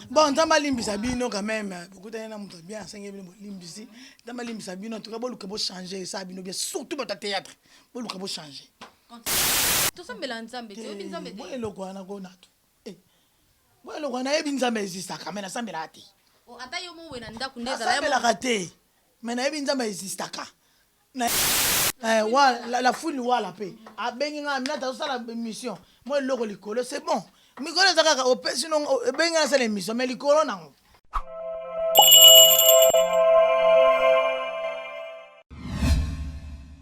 Bon, nzambe alimbisa bino quand même bokutani na moto bien asengi bino bolimbisi nzambe alimbisa bino antuka boluka bochange esa bino bien surtout bato ya théâtre boluka bochange tosambela nzambe toyebi nzambe te eloko wana konatu bo eloko wana yebi nzambe ezisaka me nasambelaka te ata yo mowe na ndako nde ezalaka te Mais nayebi nzambe existaka eh, wa, la, la fouine wala pe abengi nga aminata azosala mission mwa eloko likolo c'est bon mikolo eza kaka opesi no ebengi nga asala mission mais likolo nango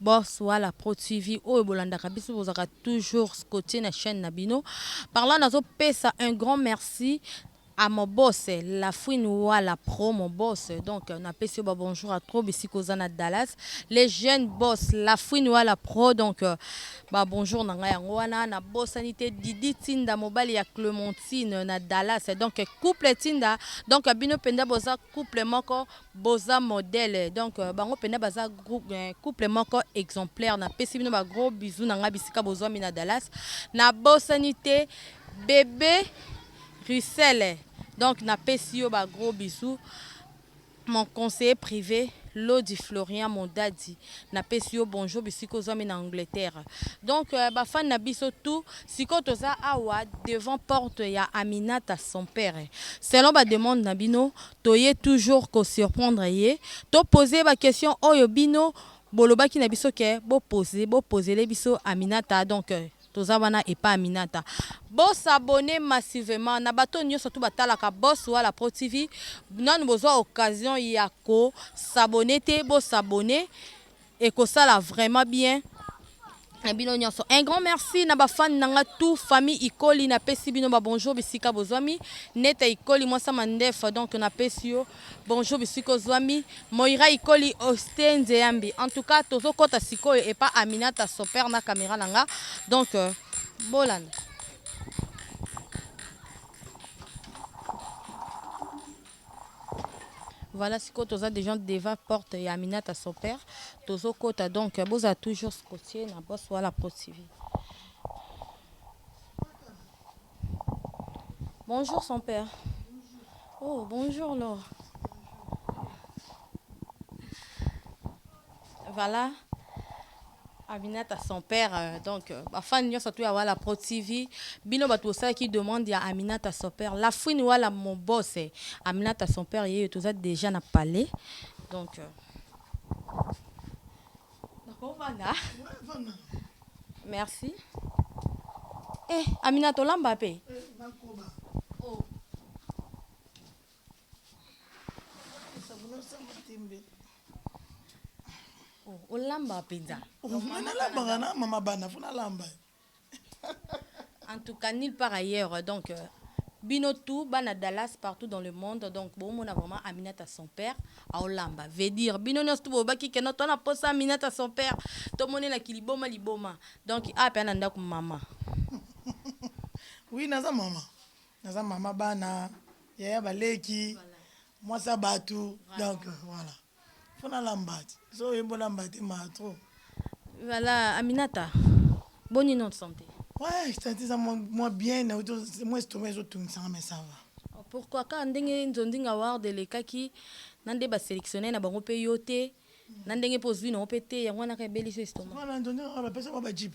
Boss wala pro TV oyo bolandaka biso bozaka toujours scotie na chaine na bino par là nazo pesa un grand merci à mon boss la fouine wala pro mon boss donc na pesi yo ba bonjour à trop bisika oza na Dallas les jeunes boss la fouine wala pro donc ba bonjour na nga yango wana na bosani te Didi Tinda mobali ya Clementine na Dallas donc couple Tinda donc bino penda boza couple moko Boza modèle donc bango pena baza groupe couple moko exemplaire na pesi bino ba gros bisous na nga bisika bozuami na Dallas na bosani te bebe Russel donc na pesi yo ba gros bisous mon conseiller prive Lodi Florian Mondadi na pesi yo bonjour bisika ozuami na Angleterre donc euh, ba fan na biso tout siko toza awa devant porte ya Aminata son père selon ba demande na bino Toye toujours ko surprendre ye. To poser ye ba questions oyo bino bolobaki na biso que bo poser, bo posele biso Aminata donc toza wana epa Aminata. Bo s'abonner massivement na bato oyo nionso tout ba talaka Boss Wala Pro TV. Nanu bozua occasion ya ko s'abonner te, bo s'abonner. Ekosala vraiment bien na bino nionso un grand merci na ba fan na nga tout famille ikoli na pesi bino ba bonjour bisika bozwami neta ikoli mwasa mandefa donc na pesi yo bonjour bisika ozwami moira ikoli oste nzeyambi en tout cas tozo kota sikoyo epa aminata soper na camera na nga donc euh, bolanda Voilà sikoyo toza deja devant porte ya Aminata son père tozo kota donc bozala toujours scotché na boss wala pro TV. Bonjour son père. Oh bonjour Laure. Voilà Aminata son père donc ba fan nionso tout ya Wala Pro TV bino batu bosalaki demande ya Aminata son père la fouine Wala mon boss Aminata son père yeyo toza dejà na palais donc nako vanda merci eh Aminata olamba pe. olamba mpenza nalambaka na mama bana fo nalamba en tout cas nulle part ailleurs donc euh, bino tout bana dallas partout dans le monde donc bomona vraiment aminata son père aolamba veut dire bino nyonso tu bobaki keno to na posa aminata son père tomonelaki liboma liboma donc ape ana ndako mama oui naza mama Naza maman bana yaya ba leki mwasi ya batu donc voilà faut na lamba soki oyembi olamba te mawa trop. Voilà Aminata boni nom de sante. Ouais sante eza mwa bien na uti mwa estomac ezo tungisa nga mais ça va. Pourquoi kaka ndenge nzonzing award elekaki na nde ba selectionner na bango pe yo te na ndenge pe ozui na yo pe te yango wana kaka ebelisi yo estomac. Voilà nzonzing award ba pesa bango ba jeep.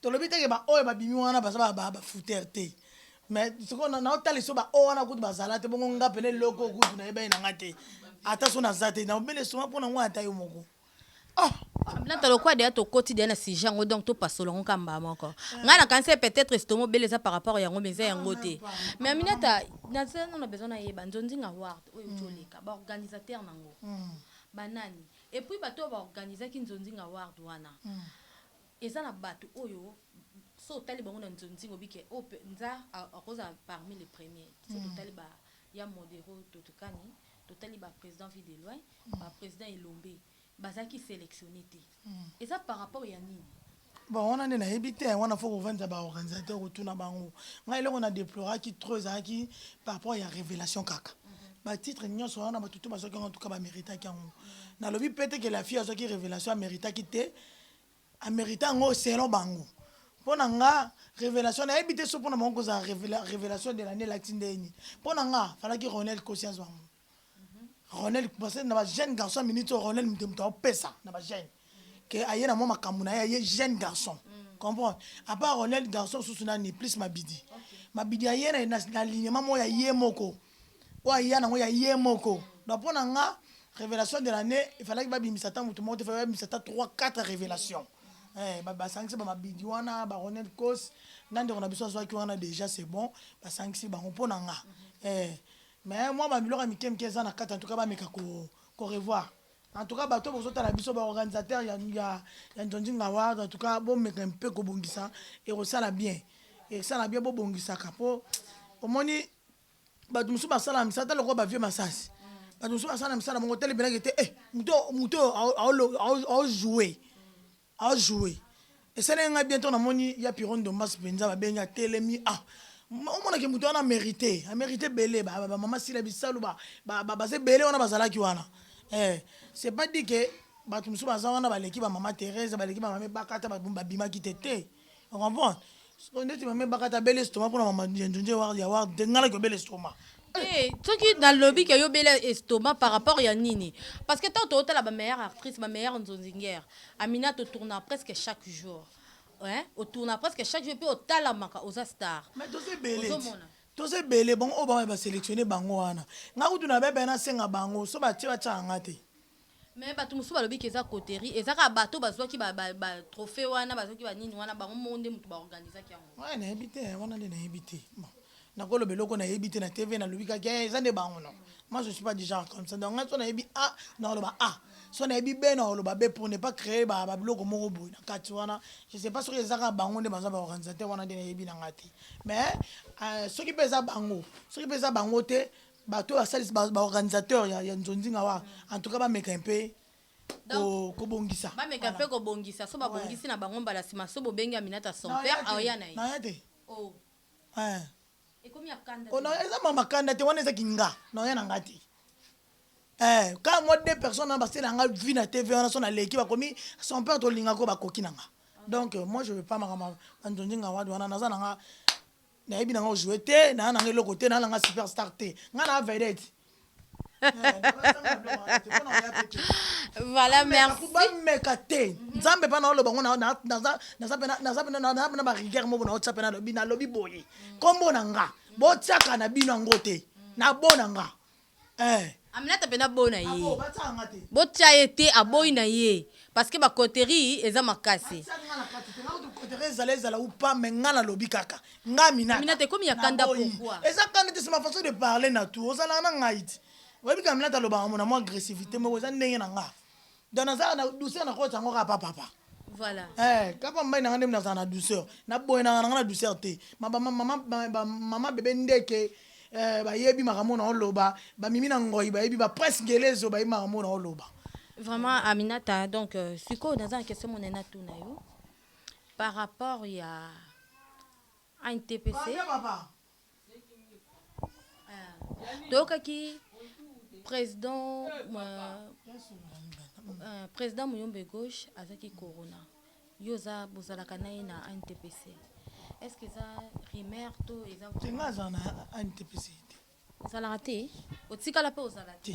Tolobi te ke ba oyo babimi wana baza ba ba fouteurs te mais sikoyo na nao tala lisusu ba oyo wana kutu bazala te bongo nga pena eloko kutu nayebani na nga te ata so naza te na obele soma pona ngo ata yo moko oh Aminata lokola deja tokoti deja na sujet yango donc topasola yango kaka mbala moko ngai nakanisi peut-être estomac obele eza par rapport yango mais eza yango te mais Aminata naza nano na besoin nayeba Nzonzinga Award oyo euti oleka ba organisateurs na yango banani et puis bato oyo ba organisaki Nzonzinga Award wana Eza na batu oyo soki otali bango na nzonzing obi ke oyo penza akozala parmi les premiers. Soki totali ba ya Modero, Totukani, totali ba presidents vue de loin, ba presidents Elombe, bazalaki selectionner te. Eza par rapport ya nini? Bon, wana nde nayebi te, wana faut kovandisa ba organisateurs otuna bango. Ngai eloko na deploraki trop ezalaki par rapport ya revelation kaka. Ba titres nionso wana batu tout bazwaki yango en tout cas ba meritaki yango. Nalobi peut-etre que la fille azwaki revelation a meritaki te, A merita yango selon bango. Pona nga revelation na yebi te soki pona bango kozala revelation de l'annee elakisi ndenge nini. Pona nga falaki Ronel Kosi azwa yango. Ronel parce que na ba jeune garçon ya minute Ronel moto moto apesa na ba jeune que aye na mwa makambo na ye aye jeune garçon mm. comprendre à part Ronel garçon susu nani plus Mabidi okay. Mabidi aye na, na, na lignema moko ya ye moko Oyo aya nango ya ye moko. Donc pona nga revelation de l'annee il falaki ba bimisa ata mutu moko te, il fallait ba bimisa ata trois quatre revelation eh ba sangisi ba mabidi wana ba Ronel Coss na ndeko na biso azuaki wana dejà c'est bon ba sangisi bango pona nga eh mais mua ba biloko ya mike mike eza na kati en tout cas ba meka ko revoir en tout cas batu oyo bozo tala biso ba organisateur ya ya Ndjondjing award en tout cas bo meka un peu ko bongisa eko sala bien eko sala bien bo bongisaka po omoni bato mosusu basala na misala ata lokola ba vieux masasi bato mosusu basala na misala bango otelemelaki te eh, moto moto aojoue aojoue esaleli ngai bientôt namoni ya piro ndombas mpenza babengi atelemi ah omonaki moto wana amerite amerite ebele bamama sila bisalu baza ebele wana bazalaki wana eh, c'est pas dit ke bato mosusu baza wana baleki bamama therese baleki bamama ebakata babimaki te te o comprendre sikoyo ndeti mama ebakata abeli estoma mpona mama ya njunje ya ward te ngai naki obela estoma Eh, soki nalobi ke yo bela estomac par rapport ya nini parce que ntango tootala ba meilleure actrice ba meilleure nzonzingere amina totourna presque chaque jour eh, otourna presque chaque jour mpe otalamaka oza star mais toza ebele ozomona toza ebele bango oyo bamai baselectionne bango wana ngai kutu na bebe nasenga bango so batie batiaka ngai te Mais batu mosusu balobi que eza coterie, eza kaka batu oyo bazuaki ba ba trophee wana, bazuaki ba nini wana, bango moko nde mutu ba organisaki yango. Hee nayebi te wana nde nayebi te bon nako loba eloko nayebi te na TV nalobi kaka hee eza nde bango non moi je suis pas du genre comme ça donc ngai soki nayebi A nako loba A soki nayebi B nako loba B pour ne pas creer ba ba biloko moko boye na kati wana je sais pas soki eza kaka bango nde baza ba organisateur wana nde nayebi na ngai te mais soki pe eza bango soki pe eza bango te Bato oyo basalisi ba ba organisateur ya, ya nzonzinga wa en tout cas bameka un peu Donc, ko, kobongisa bameka mpe kobongisa so babongisi na bango mbala nsima so bobengi aminata son père aoya na ye naya te oh eh. ekomi ya kanda Oh, te na- eza mama kanda te wana eza kinga naoya na nga te Eh, kaka mwa deux personnes wana basela nga vi na tv wana so naleki bakomi son père tolingaka oyo bakoki na nga donc euh, moi je veux pas makambo ya banzonzi nga wadi wana naza na nga Nayebi na nga ojouer te, naa na nga eloko te, naa na nga superstar te. Nga naa vedette. voilà merci bameka te nzambe mpa naoloba ngo naza mpe na barigueur moko naotya mpe nalobi nalobi boye nkombo na nga botyaka na bino yango te nabona nga Eh. Aminata pena bo na ye. Bo tia ye te aboyi na ye. Parce que ba coterie eza makasi. Coterie ezala ezala ou pas mais nga na lobi kaka. Nga Aminata. Aminata ekomi ya kanda pourquoi? Eza kanda te c'est ma façon de parler na tu ozalaka na ngai ti. Oyebi ke Aminata alobaka na mwa agressivite moko eza ndenge na nga. Donc nazalaka na douceur na kotisa yango kaka pa papa. Voilà. Eh, kapa mbai nanga ndem nazala na douceur. Na boye nanga nanga na douceur te. Ma ba mama ba mama bebe ndeke eh ba yebi makambo na oloba, ba mimi na ngoi ba yebi ba presse ngelezo ba yebi makambo na oloba. Vraiment Aminata donc euh, siko naza na question mona na tuna yo par rapport ya ANTPC. Papa, papa. toyokaki president euh, president muyombe gauche azaki corona yo oza bozalaka na ye na ntpc est ce que eza rumeur to eza te nga azala na ntpc te ozalaka te otikala mpe ozala te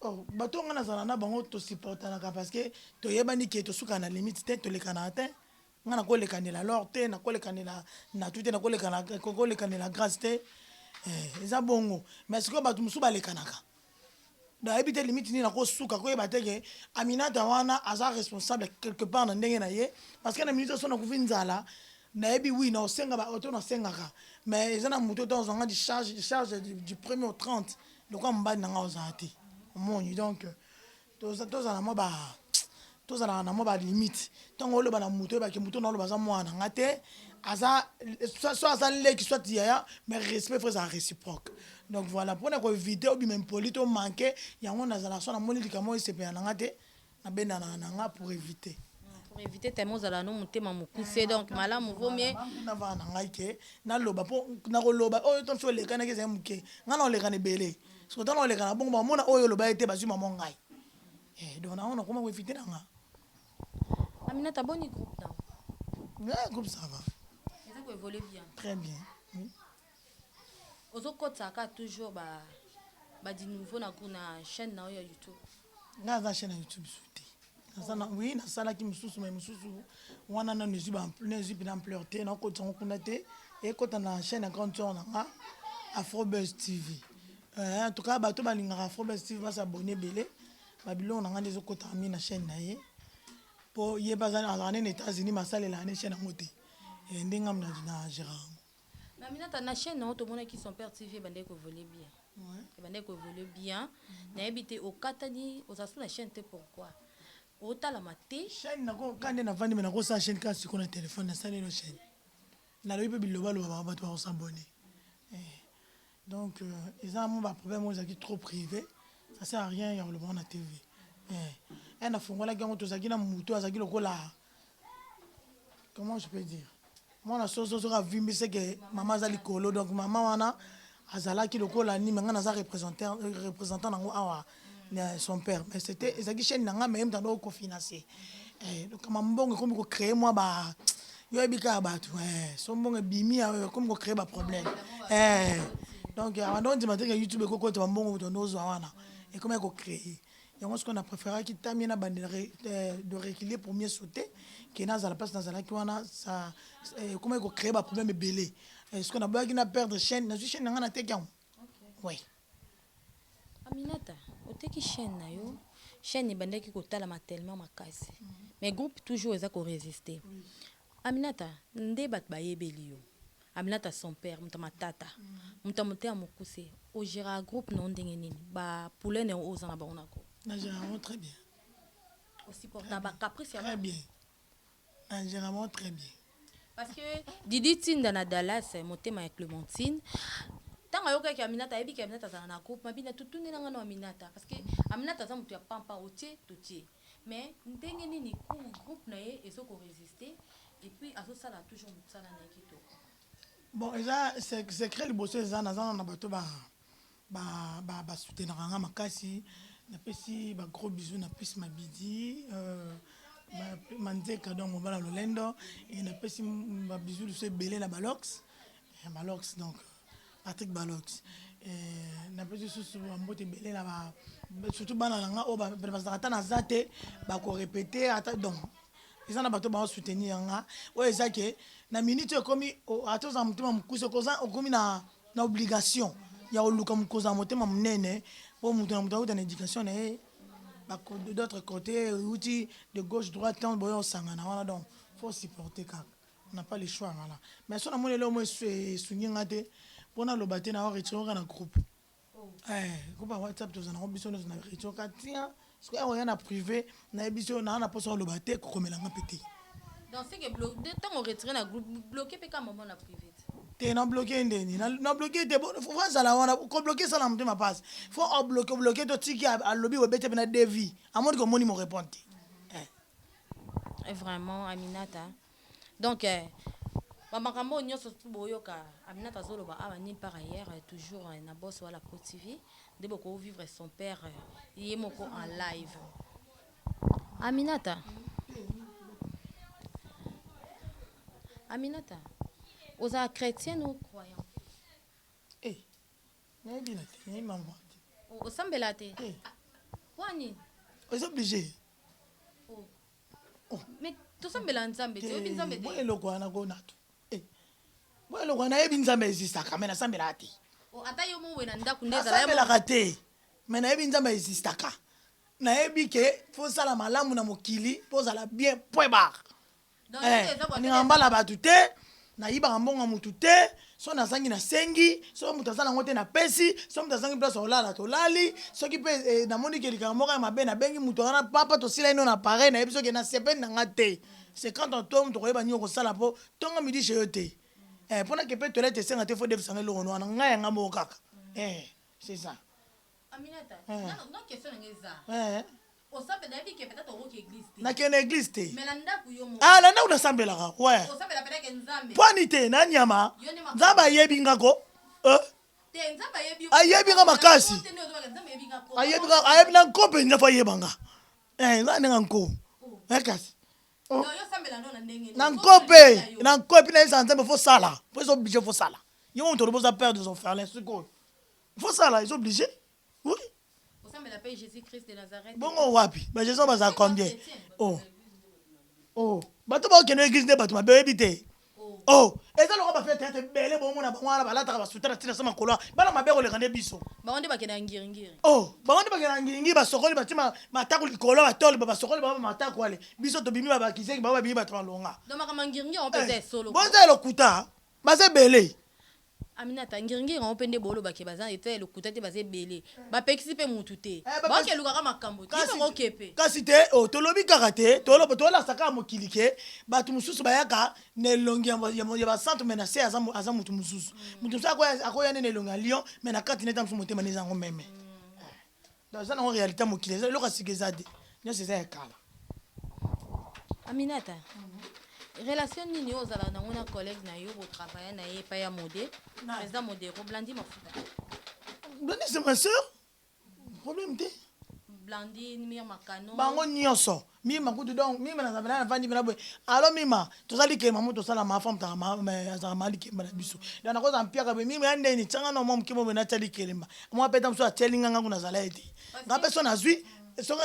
Oh bato oyo nga nazala na bango to supportanaka parce que toyebani que tosukaka na limite te, tolekanaka te, nga nakolekanela L'or te, nakolekanela Natou te, nakolekana kolekanela Grace te eh eza bongo mais sikoyo bato mosusu balekanaka donc ayebi te limite nini akosuka akoyeba te ke Aminata wana aza responsable quelque part na ndenge na ye parce que na minute oyo soki nakufi nzala nayebi oui nakosenga ba oyo to nasengaka mais eza na moto oyo tozwanga du charge du charge du premier au 30 lokola mobali na ngai ozala te omoni donc tozala mwa ba tozalaka na mwa balimite ntango oloba na moto oyebake moto naoloba aza mwana na ngai te aza so aza leki soit yaya mais respect fo ezala réciproque donc voilà mpona koevite obima impoli to manke yango nazalaka so namoni likambo esepela na ngai te Na bendanaka na nga pour eviter. Pour eviter tellement ozalaka no motema mokuse donc malamu vaut mieux. Na vanda na ngai que na loba po na ko loba oyo to mosusu olekanaki ezali moke nga na olekana ebele sikoyo tango na olekana na bongo ba mona oyo oloba ye te bazui maman ngai eh donc na yango na koma ko eviter na nga. Aminata boni groupe na yo? Eh groupe ça va. Eza ko evoluer bien. Très bien. Ozo kotisa ka toujours ba ba du nouveau na gout na chaine na yo ya youtube. Nga aza chaine ya youtube su te. Naza na oui na salaki mususu mais mususu wana nanu ezui ba na ezui pena ampleur te nao kotisa ngo kuna te ekota na chaine ya grande soeur na nga Afrobuzz TV eh en tout cas bato ba lingaka Afrobuzz TV ba s'abonner ebele ba biloko na nga nde ezo kotaka mingi na chaine na ye po ye pe aza azalaka nde na Etats-Unis mais asalelaka nde chaine yango te eh nde nga na na geraka ngo. Na Aminata na chaine na yo tomonaki son père TV ebandaki ko evoluer bien. Ebandaki ko evoluer bien. Na yebi te okatani ozala su na chaine te pourquoi? Otalama te. Chaine na ko kande na vandi mais na ko sala chaine kaka sikoyo na telephone na sali naino chaine. Na lobi pe biloba loba batu ba ko s'abonner. Donc eza vraiment ba problème oyo ezalaki trop prive ça sert à rien ya koloba ngo na TV eh eh na fongolaki yango tozalaki na mutu oyo azalaki lokola comment je peux dire mwana soso soki avimbi c'est que maman aza likolo donc maman wana azalaki lokola nini mais nga naza representer representant nango awa na son père mais c'était ezalaki chaîne na ngai mais ye moto andoko kofinanse eh, donc kama mbongo ekomi kocreye mwa ba yo oyebi kaka bato eh, so mbongo ebimi awa ekomi kocreye baproblème eh, donc awa ndo ondima teke youtube ekokota bambongo moto ndo ozwa wana ekomi kocreye yango sikoyo na préféraki tamie na bande eh, de reculer pour mieux sauter ke nazala mpasi nazalaki wana ekomaki eh, kocreye baproblème ebele eh, sikoyo naboyaki na perdre chaîne nazwi chaîne na ngai nateki yango oui Aminata oteki chaine na yo chaine ebandaki kotalama tellement makasi mais groupe toujours eza ko resiste Aminata nde batu bayebeli yo Aminata son père moto ya matata moto ya motema mokuse o geraka groupe na yo ndenge nini ba pulene oyo oza na bango na groupe na gere yango très bien o supportaka ba caprice ya batu? na nzela moko très bien. Parce que Didi tinda na Dallas motema ya Clementine tango ayokaki Aminata ayebi ke Aminata azala na groupe mabina tu tunela nga no Aminata parce que Aminata aza mutu ya pampa otie totie mais ndenge nini groupe na ye ezo ko resister et puis azo sala toujours musala na ye kitoko. Bon eza secret liboso eza naza nanu na bato ba ba ba soutenaka nga makasi na pesi ba gros bisous na pisi mabidi euh, manzeka donc mobala lolendo et na pesi ba bisous lisusu ebele na balox eh, balox donc Patrick Balox eh, na pesi susu mbote ebele na ba surtout bana na nga oyo bazalaka ata naza te bakorepete ata donc eza na bato bao soutenir nga oyo eza ke na minute oyo ekomi ata oza motema mokuse okomi na na obligation ya koluka kozala motema monene po mutu na mutu awuta na education na ye ba de d'autre cote ewuti de gauche droite tango boya kosangana wana donc faut supporter kaka on n'a pas le choix voilà mais soki namoni eloko moko esungi nga te po naloba te nao retirer yo kaka na groupe eh groupe ya WhatsApp tozala nango biso nioso na retirer yo kaka tian Soki aya koya na prive na yebisi yo naza na posa ya koloba te kokomela nga mpe te. Donc ce que blo de tango retire na groupe bloquer mpe kaka maman na prive te. Te na bloquer ye ndeni na na bloquer ye te bo faut azala wana ko bloquer esala motema pasi faut o bloquer bloquer to tiki a alobi obeti ye mpe na devis amoni ke omoni mo repondre te. Vraiment Aminata Donc ba makambo oyo nionso boyoka Aminata azoloba awa nulle part ailleurs toujours na Boss Wala Pro TV nde boko vivre son père ye moko en live. Aminata, Aminata ozalaka chretienne ou croyante? Eh nayebi na te nayebi maman te. Osambelaka te? Te. Pona nini? Eza oblige. Mais tosambela nzambe te oyebi nzambe te boye eloko wana kona to eh, boye eloko wana yebi nzambe existaka me nasambelaka te oh, ata yo mowe na ndako nde ezalaasambelaka te me nayebi nzambe existaka nayebi ke fosala malamu na mokili pozala bien point barre eh, nalingaka mbala ya bato te nayibaka mbongo ya motu te so nazangi nasengi soki moto aza nango te napesi soki moto azangi place olala tolali soki mpe eh, namoni ke likambo moko ya mabe nabengi moto wana papa tosila ino na pareil nayebi soki na sepeli na nga te c'est quand on tombe tokoyeba nini okosala mpo ntongo midi chez yo te eh, mpo nakepe toilette esenga te fo defisanga eloko wana ngai yanga moko kaka eh, c'est ça nakende eglise te ah, na ndako nasambelaka we pwani te na nyama nzambe ayebi nga ko eh? ayebi nga makasi ayebi na nko mpenza fo ayeba nga eh, nzambe ndenge nko oh. eh, kasi oh. na nko mpe na nko epi nayebisa nzambe fosala po ezo oblige fosala yo moto olobi oza père des orphelins sikoyo faut sala ils oblige oui osambela pe Jesus Christ de Nazareth bongo wapi ba Jesus baza combien oh oh bato ba okende église nde bato mabe oyebi te oh, oh. eza lokola bafete ete ebele bongo na bango wana balataka basuta na ntina sama kola bana mabe koleka nde biso bango nde bakenda ngiringiri o oh, bango nde bakenda ngiringiri basokoli bati matako likolo batole basokoli bango matako ale biso tobimi babakiseki bango babimi bato balonga eh, boza elokuta baza ebele Aminata ngiringiri bango pe nde boloba ke baza na etat ya lokuta te baza ebele ba pekisi pe mutu te ba ke luka kaka makambo te yo pe ko ke pe. Kasi te oh tolobi kaka te toloba tolakisa kaka mokili ke batu mususu bayaka na elongi ya ba santu mais na se aza mutu mususu mutu mususu akoya nde na elongi ya lion mais na kati na ye ata mususu motema nde eza yango meme. Donc eza nango realite ya mokili, eza eloko ya sika eza te, nionso eza ya kala. Aminata, relation nini oyo ozalaka na yango na collègue na yo bo travailler na ye epai ya Mode, Nani? President Modero, Blandy Mafuta, Blonde c'est ma soeur, problème te. Blandy, Mia Makano, Bango nionso, Mima kutu donc mima na nzambe naye avandi pena boye allo mima toza likemba mutu osala ma femme taka ma mais azaka ma likemba na biso donc nakoza mpiaka boye mima ya ndeni tianga no mwa muke mobe natia likelemba mwa peta musu atieli nga nga kuna zala ye te nga pe so nazui soki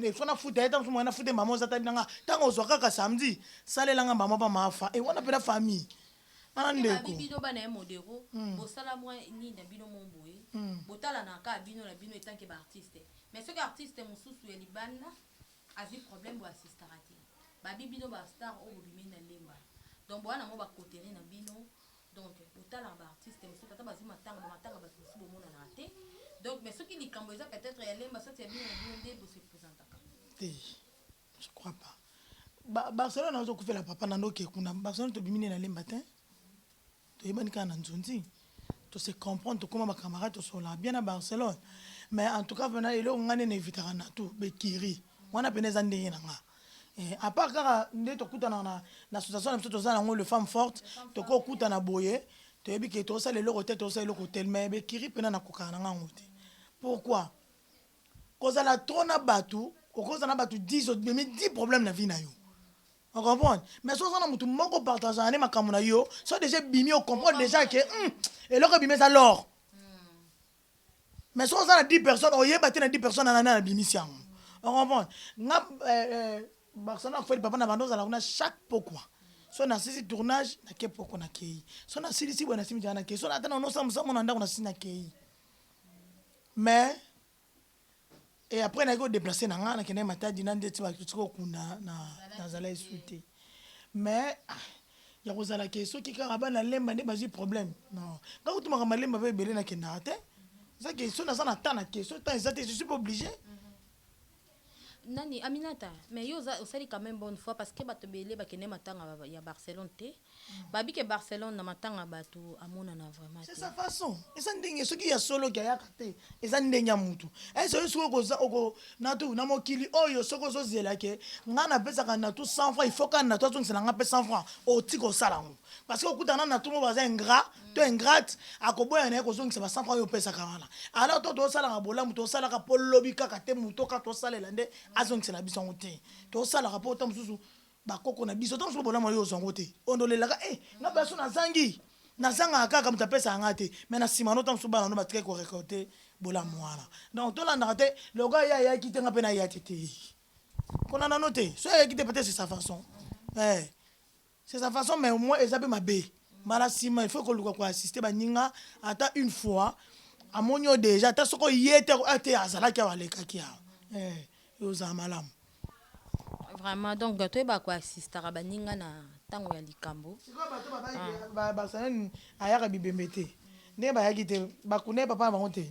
il faut na futa ye tango musu moye na fute mama oza tabi na nga tango ozua kaka samedi salela nga mama pa ma fa et wana pena famille wana ndeko. bino bana ya modero bosala mwa nini na bino moko boye botalana kaka bino na bino etant que ba artiste mais soki artiste mususu ya libanda azui problème bo assistaka te ba bi bino ba star oyo bobimeli na lemba donc boya nango ba coterie na bino donc botalaka ba artiste mosusu ata bazui matanga ba matanga batu mosusu bomonanaka te donc mais soki likambo eza peut etre ya lemba soit ya bino na bino nde bo se presentaka te je crois pas ba Barcelone azo kufela papa na ndoki kuna Barcelone tobimi nde na lemba te Toyebani kaka na nzunzi. To se comprendre, tokoma ba camarades, tosolola bien na Barcelone. Mais en tout cas pena eloko nga nde na evitaka natou, b'ecuries. Wana pena eza ndenge na nga. Eh, à part kaka nde tokutanaka na, na association na biso toza na yango, les femmes fortes, tokoki kokutana boye, toyebi ke tokosala eloko tel, tokosala eloko tel, mais b'ecuries pena nakokaka na nga yango te. Pourquoi? Kozala trop na batu, okozala na batu 10, omemi 10 problèmes na vie na yo. O comprendre? Mais soki oza na mutu moko o partagaka naye makambu na yo, soki dejà ebimi o comprendre dejà que hum eloko ebimi eza l'or. Mais soki oza na 10 personnes oyeba te na 10 personnes wana nani abimisi yango. O comprendre? Nga eh, eh, Barcelone na fweli papa na banda ozala kuna chaque pokwa. So na sisi tournage na ke pokwa na keyi. So na silisi boye na simi jana na keyi. So na ata na nosa musa mona ndako na sisi na keyi. Mais Et après na ko deplacer na nga na kende matadi na ndeti ba tuti ko kunda na na zala esute mais ya kozala ke soki kaka bana lemba nde bazwi problème non nga kutu makambo ya lemba mpe ebele nakendaka te eza ke so naza na temps na te so temps eza te je suis pas oblige Nani aminata mais yo oza osali quand meme bonne foi parce que bato ebele ba kende matanga ya Barcelone te ba yebi ke Barcelone na matanga bato amonana vraiment te. C'est sa façon eza ndenge soki ya solo ke ayaka te eza ndenge ya mutu est ce yo soki oko za oko natou na mokili oyo soki ozo zela ke nga na pesaka natou 100 francs il faut ka natou azongisela nga pe 100 francs otika osala yango parce que okutana na natou moko baza ingrat to ingrate akoboya na ye kozongisa ba 100 francs oyo opesaka wana alors to tosalaka bolamu tosalaka mpo lobi kaka te moto kaka tosalela nde azongisela biso yango te tosalaka mpo ta mosusu bakoko na biso ta mosusu bolamu yo ozwa yango te oyo nde olelaka e eh, nga baso nazangi nazangaka kaka moto apesaka ngai te mai na nsima no ta mosusu bana no batikaki korekolte bolamu wana donc tolandaka te lokola ye ayaki te nga mpe nayaki te kolanda no te so ayaki te peut-être c'est sa façon eh. C'est sa façon mais au moins eza pe mabe mbala sima il faut koluka ko assister baninga ata une fois amoni yo dejà ata soki oye te ako ah te azalaki awa alekaki awa eh ekozala malamu. Vraiment donc toyeba ko assistaka baninga na tango ya likambo. Sikoyo bato babayi ba ba sanani ayaka bibembe te ndenge bayaki te bakunda ye papa na bango te.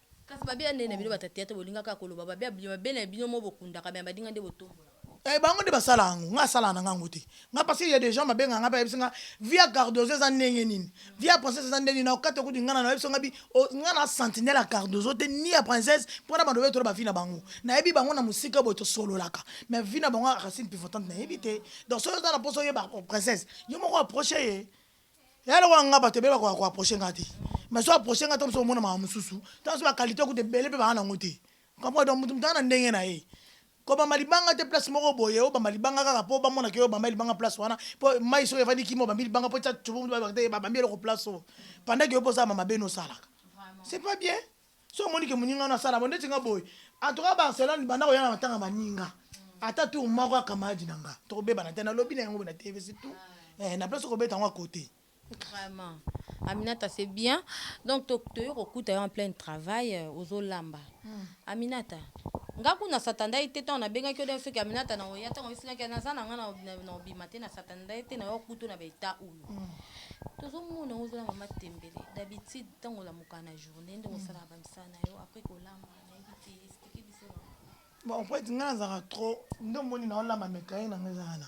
Kasi babe ya nene bino bata theatre bolinga kaka koloba babe ya bino babe naye bino moko bokundaka mais ya badinga nde botombola. Eh bango nde basala yango nga asalaka nanga yango te nga parce que ya des gens babenga nga pe ayebisi nga vie ya cardozo eza ndenge nini vie ya princesse eza ndenge nini na kokata kutu nga na nayebisi nga bi nga na sentinelle ya cardozo te ni ya princesse po na banda oyetola ba vie na bango nayebi bango na musika boye tosololaka mais vie na bango ya racine pivotante nayebi te donc soki oza na posa oyeba princesse yo moko approche ye Yaya lokola nga batu ebele bakoka ko approcher nga te mais so approcher nga to mosusu omona mawa mosusu to mosusu ba qualite kutu ebele pe baza nango te comprend donc mutu mutu aza na ndenge na ye kobamba libanga te place moko boye obamba libanga kaka po bamona ke yo obamba ye libanga place wana po mayi soki evandi kimia obambi libanga po tia tshubundu bayebaka te babambi eloko place oyo pendant ke yo pe oza ya mama beni osalaka c'est pas bien. Soki omoni ke muninga no asala bo ndeti nga boye en tout cas Barcelone banda koya na matanga baninga ata tour moko ya camarade na nga toko bebana te na lobi na yango boye na TV c'est tout eh na place oko beta yango à cote. Vraiment Aminata c'est bien donc to toye kokuta yo en pleine travail euh, ozo lamba Aminata nga kuna satandaki te ntango nabengaki yo soki aminata na oya ntango osilaki naza na nga na na- na obima te na satandaki te na yo kutu na baeta oyo tozomona ozala mama tembele d'habitude Tango olamuka na journee ndenge osalaka ba misala na yo après kolamba nayebi te explique biso bango. Bon en fait nga nazalaka trop nde omoni nao lamba mais cahier na nga eza wana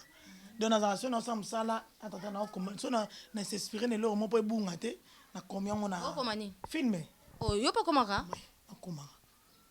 donc nazalaka soki nao sala musala na tata nao koma soki na na s'inspirer na eloko moko po ebunga te na komi yango na Okoma nini? filme Oh yo pe okomaka? Oui nakomaka.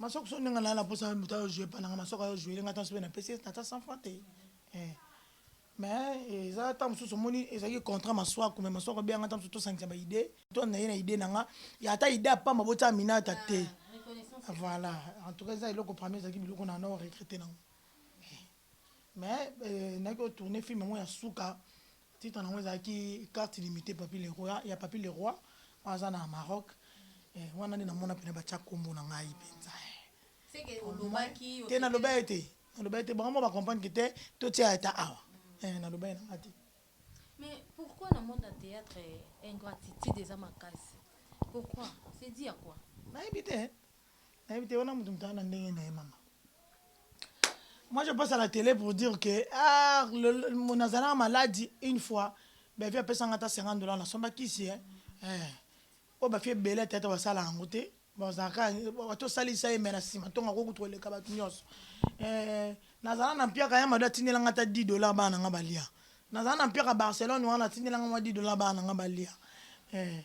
Masoko so ndenge na na posa ya mutu ayo jouer pa nanga masoko ayo jouer nga tanso pe na pesi na ta 100 francs te eh mais eza ta mususu moni ezaki contrat maswaku mais masoko bia nga ta mususu to sangisa ba idee to na ye na idee nanga ya ata idee apamba bo tia minata te voilà en tout cas eza eloko parmi ezaki biloko na na regretter nango Mais nayaki ko tourner film yango ya suka titre nango ezalaki carte illimitee papy le roi ya papy le roi wana aza na Maroc eh wana nde namona pena batia kombo na ngai penza eh te naloba ye te naloba ye te bango moko ba comprendre que te totia ye ata awa eh naloba ye na ngai te Mais pourquoi na monde ya theatre ingratitude eza makasi pourquoi c'est dit à quoi nayebi te nayebi te wana mutu mutana na ndenge na ye mama moi je passe à la télé pour dire que ah nazalaka maladi une fois bafi apesanga ata 50 dollars nasomba kisi eh, eh. oyo bafi ebele ata ata basala yango te bazalaka bato osalisa ye me na nsima ntongo akoki kutu koleka bato nyonso eh, nazala na mpiaka ya mado atindelanga ata 10 dollars bana na nga balia nazala na mpiaka barcelone wana atindelanga mwa 10 dollars bana na nga balia eh.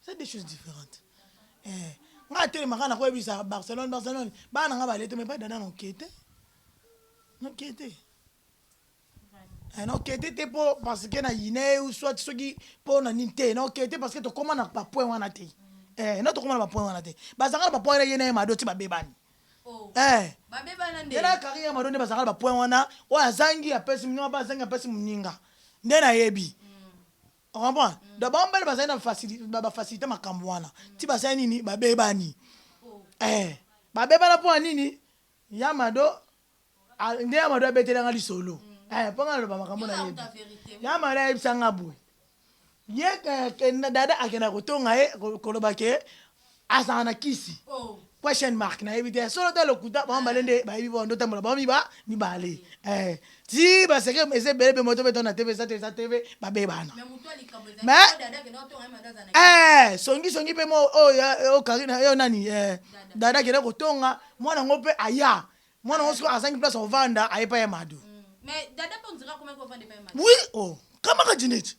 C'est deux choses differentes. Eh, nga atelema kaka nakoyebisa Barcelone, Barcelone. Bana nga balete mais pas dada na okete. Na okete. Eh, na okete te po parce que na yine ou soit soki po na nini te. Na okete parce que tokoma na ba point wana te. Eh, na tokoma na ba point wana te. Bazanga na ba point ye na ye mado ti babebani. Oh. Eh. Babebana nde. Yena kari ya mado nde bazanga na ba point wana. Oyo azangi apesi muninga, ba azangi apesi muninga. Nde nayebi. O comprendre? Donc bango mibale bazali na facilite, ba facilite makambo wana. Ti basali nini? Ba bebani. Eh! Ba bebana mpo ya nini? Ya Mado, nde ya Mado abeteli nga lisolo. Eh, mpo nga naloba makambo na yebi. Ya Mado ayebisa nga boye. Ye, eh, dada akenda kotonga ye, koloba ke, azala na kisi question mark nayebi te solo te lokuta bango mibale nde bayebi bango ndotambola bango miba mibale eh, ti baseke eza ebele mpe moto betona tv eza te eza tv babebana me eh, songi songi mpe mo oyo oh, oh, oh, karina yo nani eh, dada kende kotonga mwana yango mpe aya mwana yango soki azangi place ovanda aye pa ya mado mm. oui oh kamaka jineti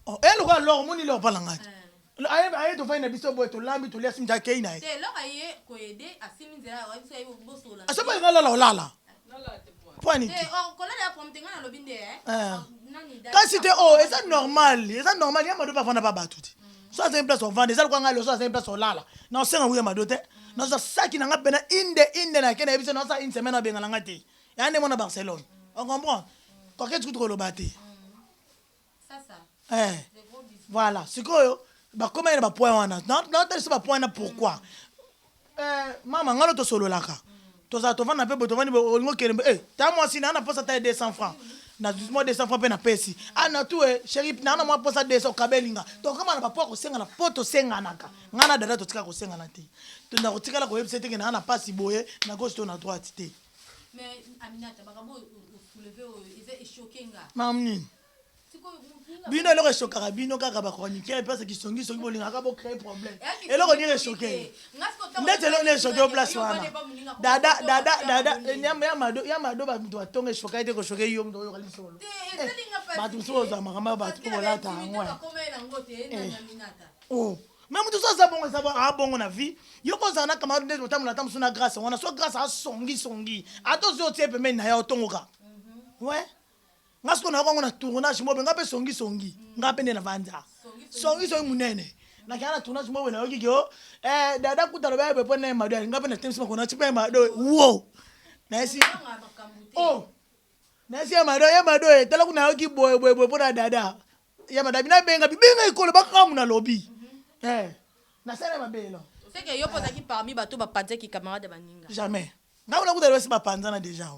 Oh, eh, lokola loko moni loko pala ngati. Eh. Aye aye to fai na biso boye to lambi to liasi mja kei na ye. Te loko aye ko ede asimi nzela wa biso aye boso la. Asoba ngala la olala. Lala te pwa. Pwa ni. Te oh kolala ya pwa mtenga na lobi nde eh. eh. Nani da. Kasi te oh eza normal, eza normal ya mado pa fana pa batu ti. Mm. So aza place ovanda eza kwa ngalo so aza place olala. Na osenga wuya mado te. Mm. Na so saki na nga pena inde inde na kena yebisa na sa une semaine abengana nga te. ya nde mwana barcelone on comprend koketi kutu koloba te eh, voilà sikoyo bakomaki na bapoint wana natalisa bapoint na pourquoi eh, mama ngano tosololaka tozala tovanda mpe boye tovandi olingi okende mpe eh, ta mwasi naa na posa ta ye 200 francs na mwa 200 francs mpe napesi ana ah, tu e eh, sheri naa na mwa posa 200 okabeli nga tokoma na bapo ya kosengana mpo tosenganaka ngai na dada totika kosengana te tona kotikala koyebisa eteke naa na mpasi boye na gauche to na droite te Mamu nini bino eloko eshokaka bino kaka ba chroniqueur place kisongi songi bolingaka bo créer problème eloko nini eshoke ndeti eloko nini eshoke yo place wana dada dada dada ya mado bamutu batonga eshoka ete koshoke yo mutu oyoka lisolo bato mosusu kozwa makambo ya bato mpo bolata yango o mais moto so aza bongo eza aa bongo na vie yo mpe ozala na camarade ndeti botambola ata mosusu na grâce wana so grâce asongisongi ata ozwi otie pembeni na ye otongoka we nga sikoyo nayoka yango na tournage mobe nga mpe songisongi nga mpe nde na vanza songisongi monene nakenda na tournage mobe nayoki ke o eh, dada kuta loba yebe mpo naye mado nga mpe natemisi makona ti mpe mado wo nayesi o oh, nayesi ye mado ye mado etala kuna nayoki boye boye boye mpo na dada Ya madame na benga bibenga ekolo ba kamu na lobi. Eh. Na sala mabe no. C'est que yo poza ki parmi ba to ba panza ki camarade ba ninga. Jamais. Nga na kuta basi ba panza na deja.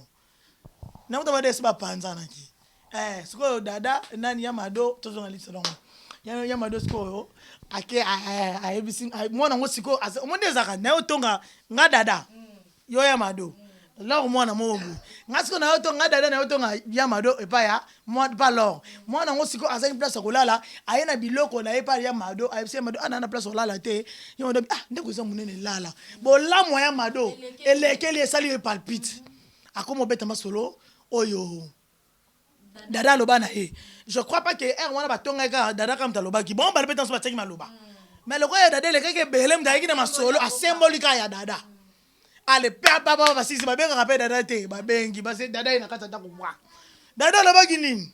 Na kuta ba desi ba panza na ki. Eh, sikoyo dada nani ya mado tozo na lisa longo. Ya ya mado sikoyo ake ayebisi mwana ngo sikoyo omoni ezaka na yo tonga nga dada. Mm. yo ya mado lor mwana moko boye nga siko nayo to nga dada nayo to nga ya mado epa ya mwa pa lor mwana ngo siko azangi place ya kolala aye na biloko na ye pa ya mado ayebisi ya mado ana na place olala te ya mado ah ndeko eza munene lala bolamu ya mado elekeli esali ye palpite akoma obeta masolo oyo Dada aloba na ye je crois pas que heure wana batongaki kaka dada kaka moto alobaki bongo bana mpe tanso batiaki maloba mais lokola ya dada elekaki ebele moto ayaki na masolo asemboli kaka ya dada ale papa basisi babengaka mpe dada te babengi base dada ye na kati atako bwa dada alobaki nini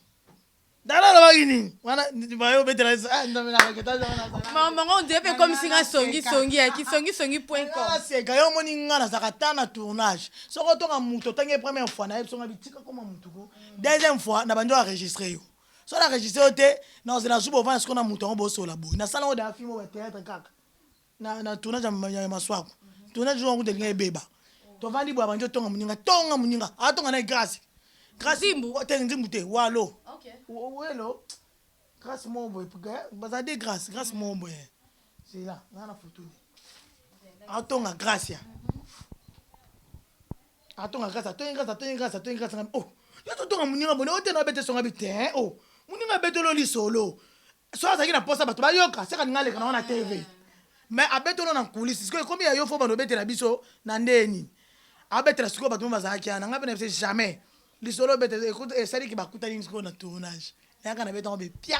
dada alobaki nini wana bayo obetela ah, mamango nde mpe ekomisi nga songisongi ya kisongisongi point com aseka yo omoni nga nazalaka ta na tournage soki otonga moto otangi ye première fois na ye biso ngabi tika koma motu ko deuxième fois na bandi oenregistre yo so na enregistre yo te naoze na zuba ovanda siko na moto yango bosola boye nasala yango daya filme ya théâtre kaka na, na tournage ya maswaku tournage yango kuta elinga ebeba tovandi boye abandi otonga moninga tonga moninga atonga na ye grâce grâce te nzimbu te walo welo grâce moko boye baza de grâce grâce moko boye zela nga na photo ne atonga gracia atonga gracia atongi gracia atongi gracia atongi gracia nga oh yo totonga moninga bone ote na obete songa bi te eh, oh moninga abetolo lisolo so azalaki na posa bato bayoka seka ninga aleka na wana tv me abetolo na nkulisi sikoyo ekomi ya yo fo bando obetela biso na ndeye nini abetela sikoyo bato mo bazalaki ana ngai mpe na bise jamais lisolo obete esaliki bakutani sikoyo na tournage nayaka na betango be pia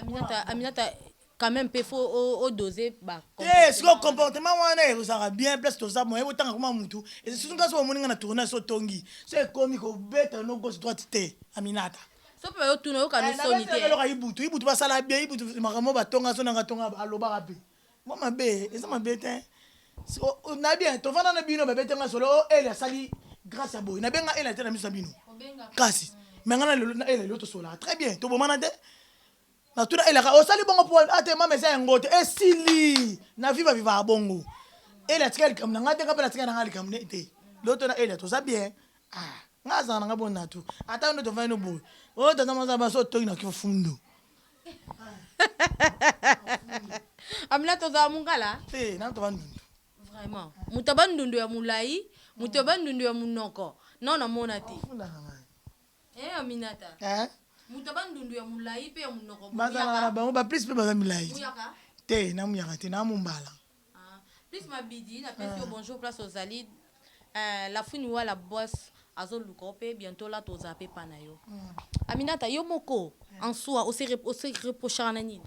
Aminata, Aminata, quand même pe faut o, o doser ba te comportement sikoyo wana. comportement wana ezalaka bien place toza moye botanga kuma mutu eza surtout nga soki omoni nga na tournage so otongi so ekomi kobeta no gauche droite te aminata So pe bayo tuna oyoka no soni te. nabetaka eloko ya ibutu ibutu basala bien ibutu makambo batonga so nanga tonga alobaka pe Mwa mabe eza mabe te sikoyo nayebi ya tovanda na bino babete nga solo o oh, ele asali grâce ya boye nabenga ele ate na miso ya bino kasi me nga na lelo na ele lelo tosolaka très bien tobomana te natuna elaka osali bongo mpo ate mama eza yango te esili na viva vivaka bongo ele atika likambo na ngai te nga mpe natika na ngai likambo ne te lelo to na ele toza bien ah nga azala na ngai bonatu ata nde tovandi no boye oyo oh, tata maza baso otoki na kifundo Amina toza wa mungala? Eh, na toba ndundu. Vraiment. Moto aba ndundu ya mulayi, moto aba ndundu ya munoko. Non na mona te. Funda na ngai. Eh Aminata. Eh? Moto aba ndundu ya mulayi pe ya munoko. Bazalaka na bango ba plus pe baza milayi. Muyaka? Te, na muyaka te, na mumbala. Plus mabidi na pesi yo bonjour place ozali eh la fouine wa la boisse azo luka yo pe bientot la to za pepa na yo aminata yo moko en soi o se o se reprochaka na nini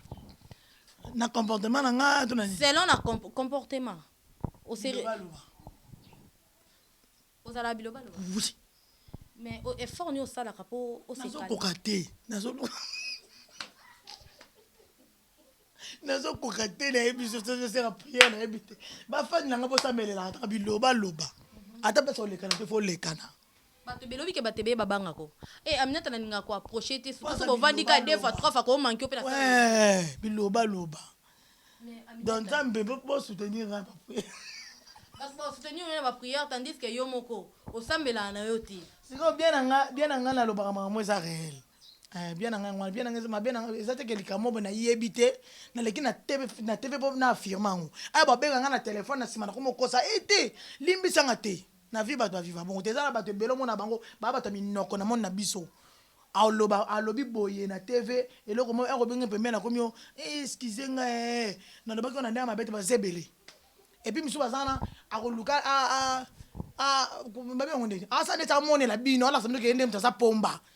na comportement na nga to na nini selon na comportement o se ozala biloba loba oui mais effort ni osalaka po o se koka te nazo nazo koka te na yebi so so sera prière na yebi te ba fan na nga bo sa melela ata biloba loba ata pesa olekana te fo lekana bato belobi ke bato ebeye babanga ko e eh, aminata nalinga ko approche te soki bovandi ka deux fois trois fois ko manke ope na biloba loba donc nzambe bo soutenir nga ba prière parce que soutenir nga ba prière tandis que yo moko osambela na yo te sikoyo bien na nga bien na nga nalobaka makambo eza réel Eh, bien na ngai ngwana, bien na ngai mabe na eza te ke likambo moko na yebi te, na leki na TV na TV po na affirmer yango. Aya ba benga nga na telephone na sima na komo kosa, eh te limbisa nga te. Na vie bato ba viva bongo te, eza na bato ebele omona bango ba bato ya minoko na monde na biso. Aloba alobi boye na TV eloko moko oko benga pembeni akomi yo eh excusez nga eh na lobaki yo na ndenge mabe te baza ebele. Et puis misusu baza wana ako luka a a a ba benga ngo nini? Asala neti amonela bino alakisa bino ke ye nde moto aza pomba.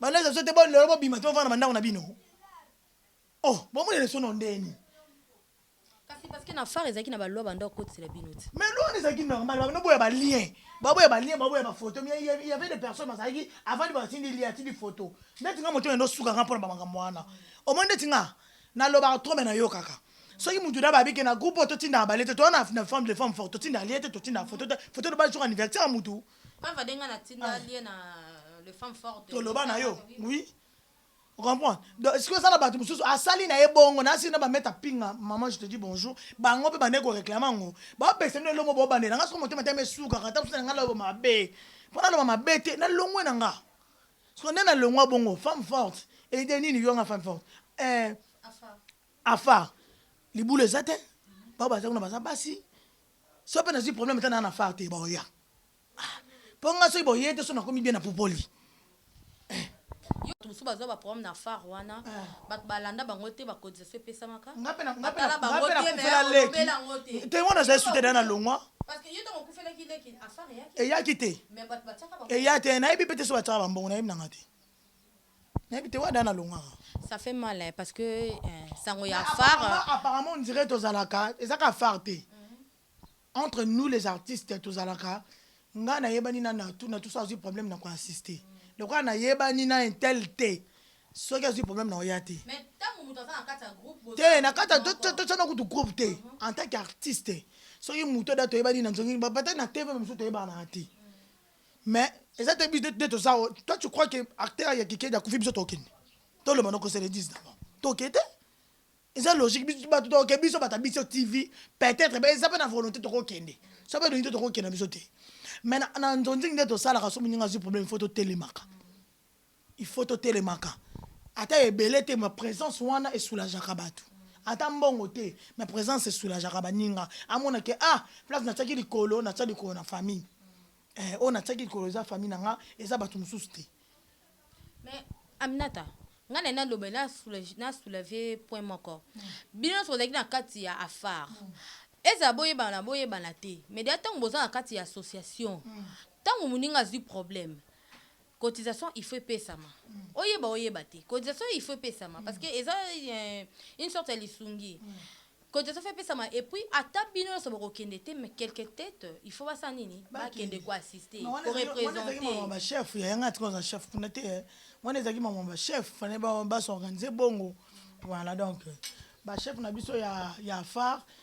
Bana eza sote bo lelo bobima te bovanda na bandako na bino. Oh, bomoni lesono ndeni. Kasi parce que na phare ezalaki na ba loi banda kotisela bino ti. Mais loi ezalaki normal, bana boya ba lien. Baboya ba lien, baboya ba photo, mais il y avait des personnes bazalaki avant de batindi lien atindi photo. Ndeti nga motema ndo suka nga pona ba makambo wana. Omoni ndeti nga na lobaka trop mais na yokaka. Soki mutu na babi ke na groupe oyo totinda ba lien te, toza na femme de femme forte, totinda lien te, totinda photo te, photo de base jour anniversaire mutu. toloba na yo oui comprendre donc sikoyo eza na bato mosusu asali na ye bongo na asili na bameta pinga maman je te dis bonjour bango mpe bande koreklame yango bapesa bino elongo bobandela nga soko motema etema esukaka ata mosusu na nga naloba mabe mpo naloba mabe te nalongwe na nga soko nde nalongwa bongo femme forte ede nini yo nga femme forte eh, afar libula eza te bao baza kuna baza basi Soki pe nazui problème ata na na far te baoya ah po nga soki boye te soki nakomi bien na pupoli eh. Batu mususu bazua ba problème na far wana batu ba landa bango te ba cotisation epesamaka ba tala bango te mais olobela yango te te nga nazali sous te dejà na longua parce que yo tangu okufelaki leki a far eyaki te eyaki te mais batu batiaka ba eya te nayebi pe te soki batiaka ba mbongo nayebi nanga te. Nayebi te wada na longaka. Ça fait mal hein parce que sango ya phare. Apparemment on dirait tozalaka eza ka phare te. Entre nous les artistes tozalaka nga na yebani na natou natou soki azui problème na ko insister. Lokola na yebani na un tel te soki azui problème na oya te. Mais tangu mutu aza na kati ya groupe boza. Te na kati to to tsana kutu groupe te en tant qu'artiste soki mutu da to yebani na nzongi ba peut-être na TV mususu to yebana te. Mais eza te biso nde toza awa toi tu crois que acteur ya kikedi akufi biso tokende toloba noko se le dise d'abord toke te eza logique biso bato toke biso bato ya biso tv peut-être ba eza mpe na volonté tokokende so mpe elingi te tokokenda biso te mais na, na nzonzing nde tosalaka so moninga azwi problème fo totelemaka Il faut totelemaka ata ebele te mais presence wana e soulageaka batu ata mbongo te mais presence e soulageaka baninga amona ke ah place natiaki likolo natia likolo na famille eh oyo natiaki likolo eza famille na nga eza batu mususu te. Mais Aminata nga naye naloba na soulage na soulave point moko bino nionso bozalaki na kati ya afar ezala boyebana boyebana te mais deja tangu boza na kati ya association tangu muninga azui problème Cotisation il faut epesama oyeba oyeba te cotisation il faut epesama parce que eza une sorte ya lisungi cotisation il faut epesama et puis ata bino nionso bokokende te mais quelques tetes il faut basala nini bakende ko assister ko representer ba chef ya yanga tika oza chef kuna te wana ezalaki makambo ya ba chef fallait ba s'organiser bongo voilà donc ba chef na biso ya ya phare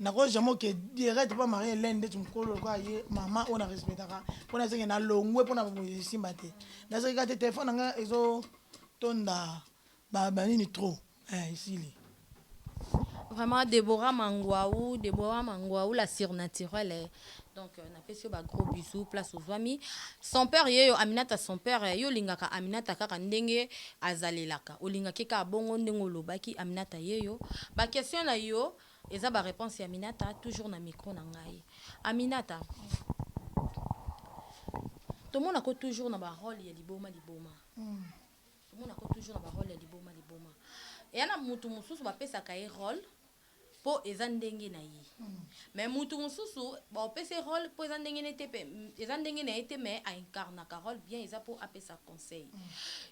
Nako jamais oke direct pa marie Helène ndeti mukolo lokola ye maman oyo na respectaka po na zenge na longwe pona ba moyi esimba te na zenge ka te telephone na nga ezo tonda ba ba nini trop eh esili. Vraiment Deborah Manguau Deborah Manguau la surnaturelle donc na pesi yo ba gros bisous place ozuami son père yeyo Aminata son père yo olingaka Aminata kaka ndenge azalelaka olingaka ye kaka bongo ndenge olobaki Aminata yeyo ba question nayo Eza ba reponse ya aminata toujours na micro na ngai aminata tomona ko toujours na ba role ya liboma liboma tomona ko toujours na ba role ya liboma liboma eya na mutu mususu ba pesaka ye role po eza ndenge na ye mais mutu mususu ba opesa ye role po eza ndenge na ye te pe eza ndenge na ye te mais a incarnaka role bien eza po apesa conseil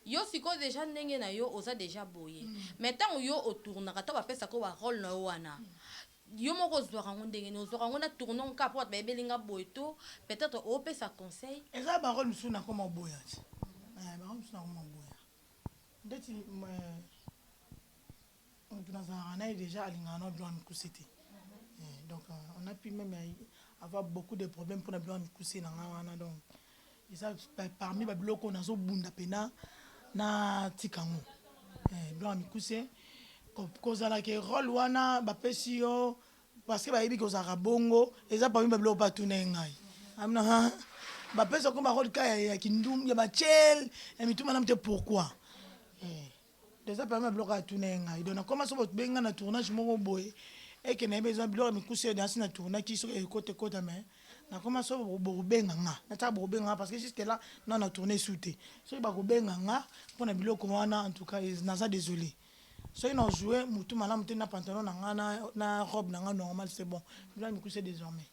yo sikoyo dejà ndenge na yo oza dejà boye mais tango yo o tournaka tango ba pesaka yo ba role na yo wana yo moko ozwaka yango ndenge nini ozwaka yango na tournons kaka po batu bayebeli nga boye to peut etre o pesa conseil Eza ba role mususu na koma oboya ti eh ba role mususu na koma oboya ndeti eh. Mutu nazalaka naye dejà alingaka na Gloire mikuse te donc on a pu meme avoir beaucoup de problème pona Gloire mikuse na nga wana donc eza parmi ba biloko oyo nazo bunda pena na tika ngo Gloire mikuse kozala ke role wana ba pesi yo parce que bayebi ke ozalaka bongo eza parmi ba biloko pe atuna ye ngai amina ba pesa ko ba role ka ya kindumba ya ba tshel ya mitu malamu te pourquoi? Eza parmi ya biloko atuna ye ngai donc nakoma soki bobengi ngai na tournage moko boye et que nayebi eza biloko ya mikuse nasi na tournaki soki ekota ekota mais nakoma soki bokobenga nga natika bokobenga nga parce que jusque là nanu na tourne esu te soki bakobenga nga pona biloko wana en tout cas naza desole soki na joue mutu malamu te na pantalon na nga na robe na nga normal c'est bon biloko ya mikuse desormais.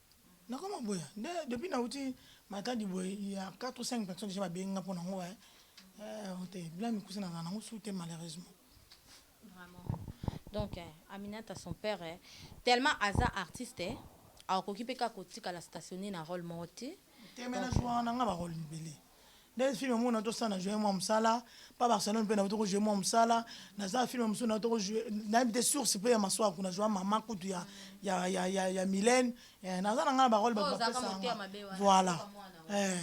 Nakoma boye nde depuis nawuti Matadi boye il ya quatre ou cinq personnes dejà babengi nga pona ngo eh te bilan mikuse nazala nango sous te malheureusement. Vraiment donc Aminata son père tellement aza artiste akoki pe kaka kotikala stationner na role moko te. Te mais nazua na nga ba roles ebele. Nde film moko na to sala na joie mwa musala pa Barcelone pe na to ko joue mwa musala na za film musu na to ko joue na bite source pe ya maswa kuna joie maman kutu ya ya ya ya ya Mylène eh na za na nga ba role ba ba pe sa nga voilà eh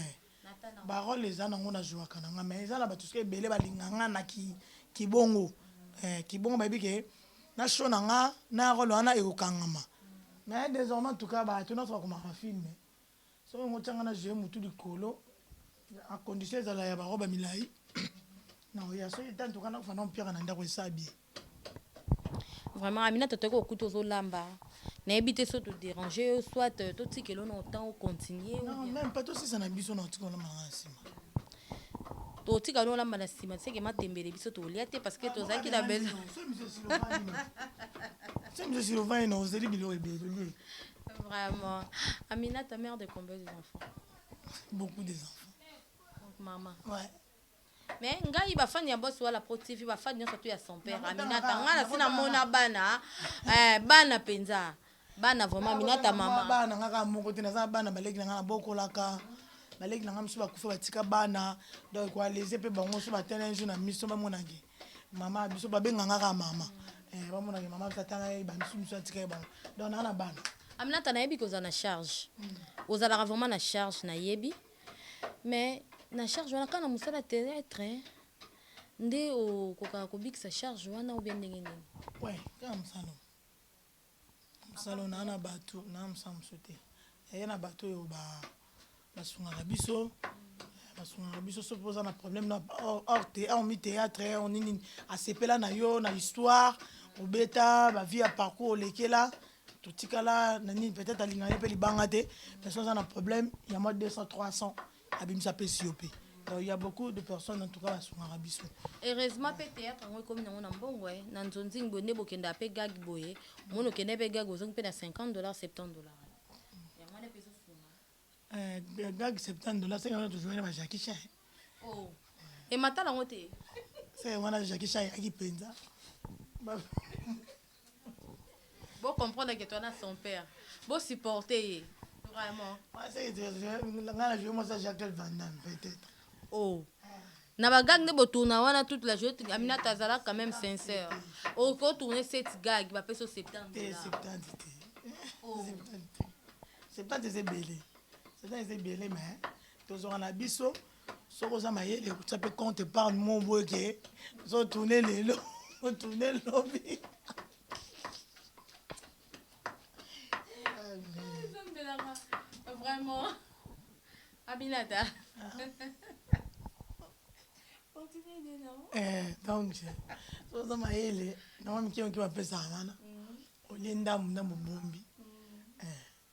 ba role eza na ngo na joie kana nga mais eza na ba tout ce que ebele ba linga nga na ki ki bongo eh ki bongo ba bi ke na show na nga na role wana e ko kangama mais désormais en tout cas ba to na to ko ma film Soki olingi otia nga na zue mutu likolo a condition ezala ya ba robe ya milayi nakoya soki te antuka nako fanda mpiaka na ndaku esa bien. Vraiment Aminata toyebi okuti ozo lamba nayebi te soki to deranger yo soit to tikela yo na otan o continuer ou bien. Non meme pas to silisa na biso na otika olamba na nga na sima. To tika no olamba na sima seke matembele biso to lia te parce que to zaki na besoin. Semi se silo vani no ozeli biloko ebele to lie. Vraiment. Aminata, mère de combien des enfants? Beaucoup des enfants. Donc maman. Ouais. Mais ngai ba fan ya boss wala pro TV ba fan nyonso tu ya son père Aminata ngai na sina mona bana eh bana penza bana vraiment Aminata mama bana ngai kaka moko te naza bana baleki na ngai na bokolaka baleki na ngai misu bakufa batika bana donc ko alese pe bango so batala un jour na miso bamonaki Mama biso ba benga nga ka mama. Eh ba mona ke mama biso tanga ye ba biso biso atika ye ba. Donc na na bana. Aminata nayebi ko za na charge. Ozalaka vraiment na charge nayebi. Mais na charge wana kana musala terrestre nde okokaka kobikisa charge wana ou bien ndenge nini? Ouais, kaka musala. Mosala oyo naa na bato naa mosala mosusu te yaya na bato oyo ba basungaka biso basungaka biso soki mpe oza na problème na hormis théâtre or nini nini asepela na yo na histoire obeta ba vie ya parcours olekela totikala na nini peut-être alingaka ye mpe libanga te mais soki oza na problème ya mwa 200 300 abimisa apesi yo pe il y a beaucoup de personnes en tout cas basungaka biso heureusement pe théâtre yango ekomi nango na mbongo eh, na nzonzing boye nde bokendaka pe gag boye omoni okende pe gag ozongi pe na 50 dollars 70 dollars yango wana pe ezosunga Eh, gag 70 dollars seke wana tozwaki na ba jackie chan oh emata nango te seke wana jackie chan ayaki mpenza Ba- Bo comprendre que toana son père. Bo supporter ye. Vraiment. Nga na joue mosa Jacques Van Damme peut être. Oh. Na ba gag nde bo tourna wana toute la journée Aminata azala quand même sincère. Okoki ko tourner cette gag ba peso 70 dollars. 70 te. Oh. 70 te. 70 eza ebele. 70 eza ebele mais tozwaka na biso soki oza mayele kotia mpe compte epargne mo boye ke zo tourne lelo otourne lobi vraiment aminata eh, donc soza mayele nango mike moke bapesaka wana mm. olie ndambu ndambu bombi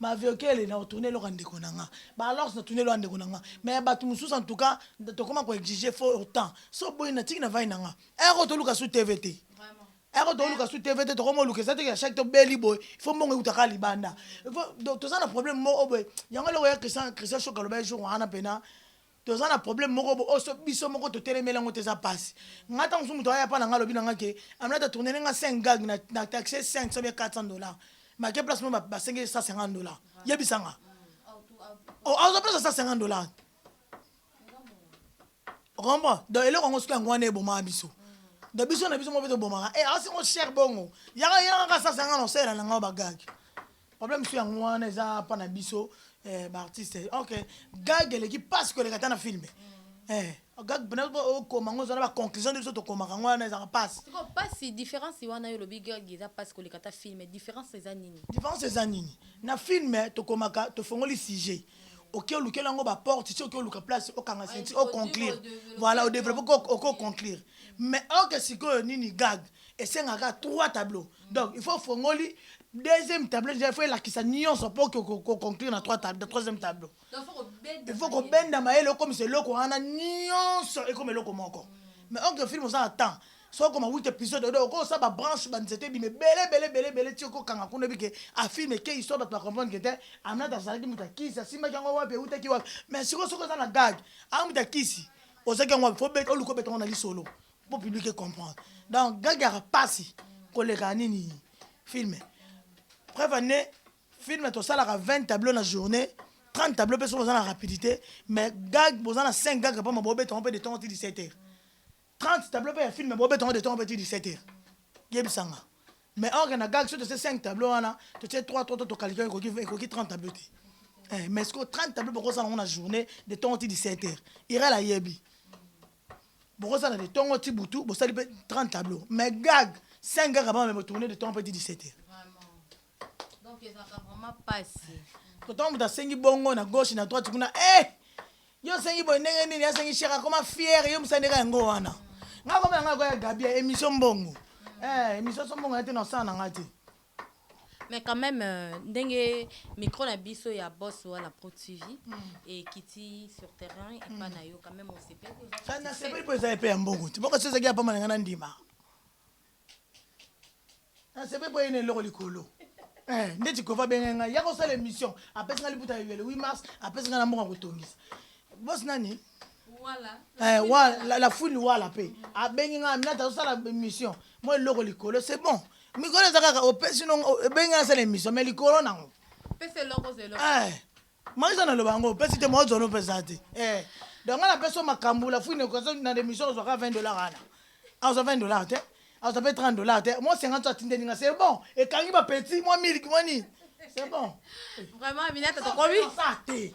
Maviokele nako tourne eloko ya ndeko na nga ba alors na tourne eloko ya ndeko na nga mais ya batu mususu en tout cas tokoma ko exige faut autant so boyi na tiki na vandi na nga heure oyo toluka su TV te heure oyo toluka su TV te tokomi oluka eza te que chaque to beli boye il faut mbongo ewuta kaka libanda toza na problème moko boye yango eloko ya Christian Christian Shok aloba ye jour wana pena Toza na problème moko bo oyo soki biso moko to telemeli yango te eza pasi. Nga tango mosusu mutu aya epa na nga alobi na nga ke Aminata tournele nga 5 gag na na taxe 500 bien 400 dollars mais ake place moko ba sengi ye 150 dollars yebisa nga oh azwa place ya 150 dollars okomprendre donc eloko yango soki yango wana ebomaka biso donc biso na biso moko mpe tobomaka e eh, asi ngo cher bongo yaka yaka ka 150 na osalela na nga ba gag problème so yango wana eza pa na biso eh, baartiste ok gag eleki mpasi koleka ata na filme mm. eh, gag mpena okoma yango eza na baconclusion nde biso tokomaka yango wana ezalaka mpasi mpasi différence wana yo olobi gag eza mpasi koleka ata filme différence eza nini différence eza nini na filme tokomaka tofongoli sujet oke olukela yango baporte ti oke oluka place okanga senti oconclure voilà odeveloppe okoconclure mais oke sikoyo nini gag esengaka trois tableau donc il faut ofongoli deuxième tableau déjà il faut elakisa nyonso mpo koconclure na troisième tableau il faut kobenda mayele okomisa eloko wana nyonso ekoma eloko moko mais onke film oza na temps soki okoma 8 épisode odo okosa babranche banzete ebima ebele ebele ebele ebele ti okokanga kuna oyebi ke afilme ke histoire bato bacomprendre ke te aminata azalaki moto akisi asimbaki yango wapi eutaki wapi mais sikoyo soki oza na gag amuta kisi ozaki yango wapi fo oluka obeta yango na lisolo po public e comprendre donc gagara pasi koleka nini film preuve en est film tosalaka 20 tableau na journée 30 tableau mpe soki oza na rapidité mais gag boza na 5 gag mpama bobetongo mpe de tongo ti 17 heures 30 tableau mpe ya film bobetongo de tongo mpe ti 17 heures yebisanga mais or na gag soki totie 5 tableau wana totie 3 3 to tokalika ekoki ekoki 30 tableau te eh, mais sikoyo 30 tableau bokosala yango na journée de tongo ti 17 heures irel ayebi Bokozala de tongo ti butu bosali pe 30 tableau mais gag 5 gag abama me tourner de tongo pe ti 17 heures. Donc ezaka vraiment pasi. Totongo moto asengi bongo na gauche na droite kuna eh yo osengi boye ndenge nini asengi cher akoma fier yo mosani ndeka yango wana nga koma yango yakoya gabia emission mbongo eh emission so mbongo ya te na osala na nga te Mais quand meme ndenge micro na biso ya boss wana pro TV ekiti sur terrain epa na yo quand meme osepeli oza Sana satisfait? sepeli mpo ezali mpe ya mbongo te moko soki ezalaki ya pamba na ngai nandima nasepeli mpo eyina eloko likolo Eh, ndeti kova abengai ngai ya kosala émission apesi ngai liputa ya yele 8 mars apesi ngai na mbongo ya kotongisa bosi nani Eh, wa, la, la fouine wala pe abengi nga mina tazosala mission moi eloko likolo c'est bon mikolo eza kaka opesi no ebengi nga nasala mission mais likolo nango eh, maisa naloba yango opesi te mwa ozwani opesa te eh, donc nga napesi yo makambo la fouine ekozo na remission ozwa kaka 20 dollar wana azwa 20 dollar te azwa pe 30 dollar te mwa 50 so atindeli nga c'est bon ekangi bapetit mwa miliki mwa nini c'est bon vraiment minata tokomi te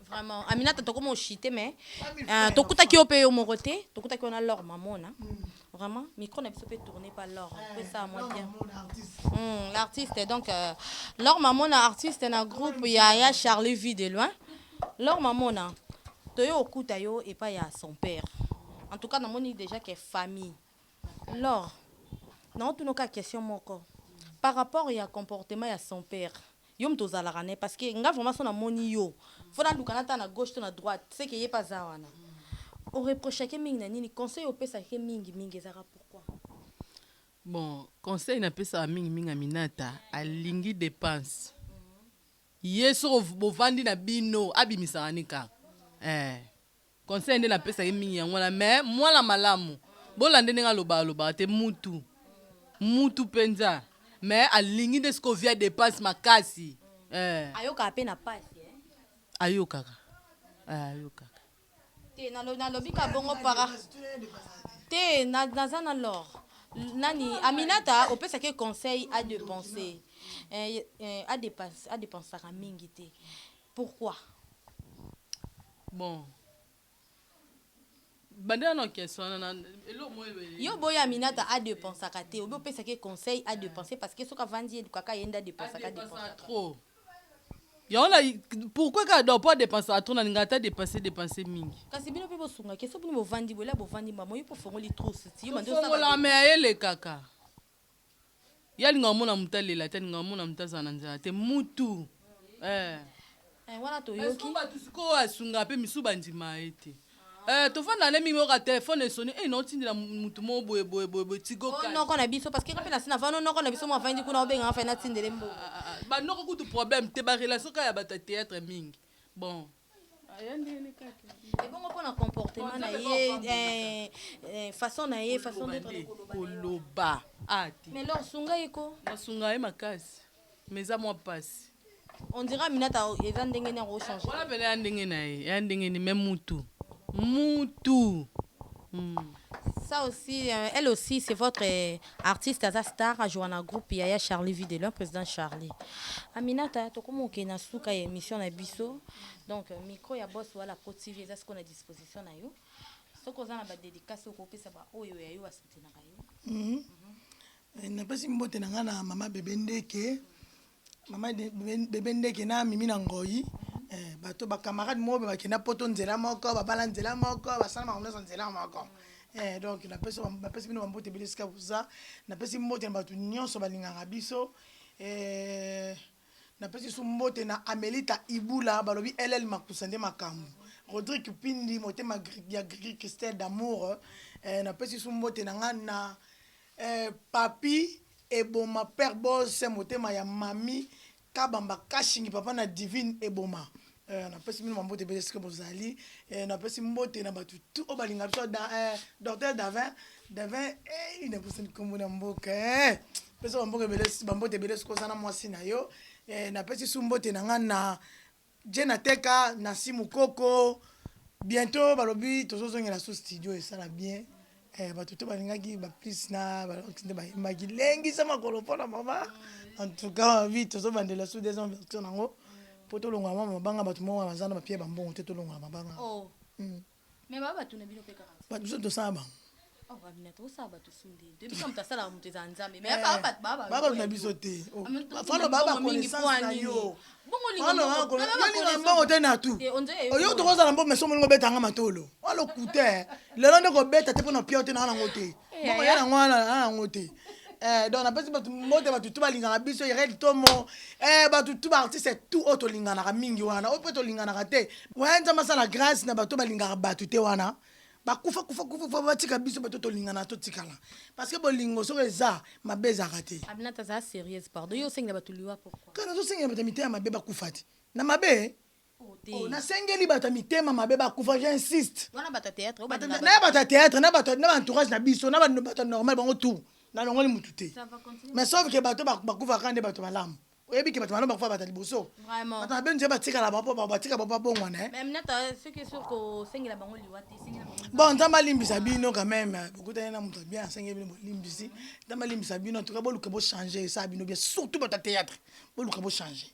Vraiment, Aminata toko mo chite mais euh, tokutaki yo pe yo moko te, tokutaki yo na Laure Mamona. Vraiment, micro na biso pe tourné par Laure. Pe ça moi bien. Hmm, l'artiste donc euh, Laure Mamona artiste na groupe ya ya Charlie Vie de loin. Laure Mamona, toyo okuta yo epa ya son père. En tout cas, namoni déjà que famille Lor, nao tuna yo kaka question moko par rapport ya comportement ya son père yo mutu ozalaka naye parce que nga vraiment soki na moni yo faut na luka na tala na gauche to na droite ce que ye pe aza wana o reprochaka ye mingi na nini conseil oyo opesaka ye mingi mingi ezalaka pourquoi? Bon conseil na pesaka mingi mingi aminata alingi depense ye soki bo vandi na bino abimisaka ni kaka eh. Conseil nde napesa ye mingi yango wana mais mwana malamu bolande ndenge alobaka alobaka te mutu mutu penza mais alingi nde sikoyo vie ya depense makasi eh. Ayokaka mpe na pasi eh? Ayokaka eh, ayokaka te nalo- nalobi ka bongo para te na- naza na lor nani aminata opesaki ye conseil a depense eh, eh, a depense- a depensaka mingi te Pourquoi? Bon. Banda na question wana na eloko moyo ebele. Yo boya Aminata a dépensaka te, obi opesa ke conseil a dépenser parce que soki avandi ye lukaka ye nda dépensaka dépensaka trop. Yango na pourquoi ka do po dépenser trop na linga ta dépenser dépenser mingi. Kasi bino pe bosunga ke soki bino bovandi bola bovandi mbamo yo po fongoli trousse ti yo mandi osaka. Fongola mais ayele kaka. Ye alingaka mwana moto alela te, alingaka mwana moto azala na nzala te. Mutu eh. Eh wana toyoki. Est-ce que batu sikoyo asungaka pe misusu bandimaka ye te? Eh tofanda nde mingi oyoka telephone esoni eh naotindela mutu moko boye boye boye boye tigo cash. Noko na biso parce que nga pe nasi navandi o noko na biso moko avandi kuna obenga nga fai natindela ye mbongo. Ba noko kutu problème te ba relation kaka ya batu ya theatre mingi bon. ebongo mpo na comportement na ye eh, eh, façon na ye façon d'être na koloba na ye. koloba ah te mais lor sunga ye ko nasunga ye makasi me eza mwa mpasi on dira minata eza ndenge nini yango ochange wana mpena ya ndenge na ye ya ndenge ni me mutu mutu Mm. ça aussi euh, elle aussi c'est votre euh, Artiste aza star a joua na groupe ya ya Charly vie de loin president Charly. Aminata tokomi kokende na suka ya emission na biso donc micro ya boss wala po TV eza sikoyo na disposition na yo soki oza na ba dedicace oyo kopesa ba oyo ya yo ba soutenaka yo. Napesi mbote na nga na mama bebe ndeke Maman bebe ndeke na mimi na ngoyi bato ba camarade moko ba kenda poto nzela moko ba bala nzela moko ba sala makambo nionso nzela moko donc na pesi ba pesi bino ba mbote ebele esika boza na pesi mbote na bato nionso ba lingaka biso na pesi lisusu mbote na amelita ibula ba lobi LL makusa nde makambu Rodrick pindi motema ya gigi Christelle d'amour na pesi lisusu mbote na nga na Eh papy eboma père boss motema ya mami kabamba cashingi papa na divine eboma eh na pesi bino ba mbote ebele esika bozali eh na pesi mbote na batu tout oyo balinga biso da eh docteur davin davin eih na bosani kombo na mboka eh pesa ba mboka ebele ba mbote ebele esika oza na mwasi na yo eh na pesi su mbote na nga na Djena teka Nancy mukoko bientot balobi tozo zongela su studio esala bien eh batu tout balingaki ba plus na ba rox nde bayembaki lengisa makolo pona mama en tout cas ma vie tozo bandela su deuxième version nango po tolongola mama mabanga batu moko wana baza na ba pieds ba mbongo te tolongola mabanga oh. Mais ba batu na bino pe kaka. Batu biso tosala bango. Oh ba bina tosala batu sunde. Te biso mutu asala mutu eza nzambe. Mais ba batu ba ba. Ba batu na biso te. Fano ba ba connaissance na yo. Bongo lingo. Fano ba connaissance. Yo lingo mbongo te na tout. Oyo toko zala mbongo mais somo lingo beta nga matolo. Walo kute. Lelo ndeko beta te pona piote na nga ngo te. Bongo yana ngo na ngo te. Eh, donc napesi bato mbote bato tu balingaka biso irel tomo eh, bato tu baartiste tu oyo tolinganaka mingi wana oyo mpe tolinganaka te waya nzambe asala grâce na bato balingaka bato te wana bakufa kufa kufa kufa batika biso bato tolingana totikala parce que bolingo soki eza mabe ezalaka te abinata azala sérieuse pardon yo osengela bato liwa pourquoi kana tozosengela bato ya mitema mabe bakufa te na mabe Oh, nasengeli bato ya mitema mabe bakufa j'insiste na bato ya théâtre na bato na entourage na biso na bato normal bango tout nalongoli motu te mais sauf ke bato bakufaka nde bato malamu oyebi ke bato malamu bakufa bato ya liboso bato mabe nzela batikala batika bapo babongwana eh. bon nzambe alimbisa bino quand même bokutani na moto bien asengeli bino bolimbisi nzambe alimbisa bino en tout cas boluka bochange esala bino bien surtout bato ya théâtre boluka bochange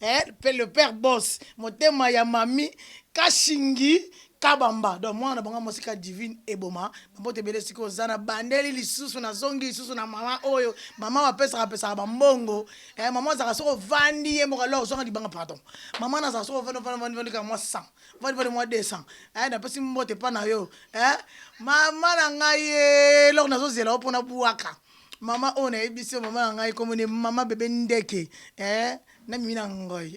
Eh pe le père boss motema ya mami kashingi kabamba donc mwana na bango ya mwasi ka divine eboma bambote ebele sikoyo za na bandeli lisusu na zongi lisusu na mama oyo mama bapesaka pesaka bambongo eh, mama azalaka soko vandi ye moko alors ozwanga libanga pardon mama nazalaka soko vandi vandi vandi vandi kaka mwa 100 vandi vandi mwa 200 eh, napesi mbote mpa na yo eh, mama na ngai ye eloko nazozela yo mpo na bwaka Maman oyo nayebisi yo maman na ngai kombo ne maman bebe ndeke eh na mimi na ngoi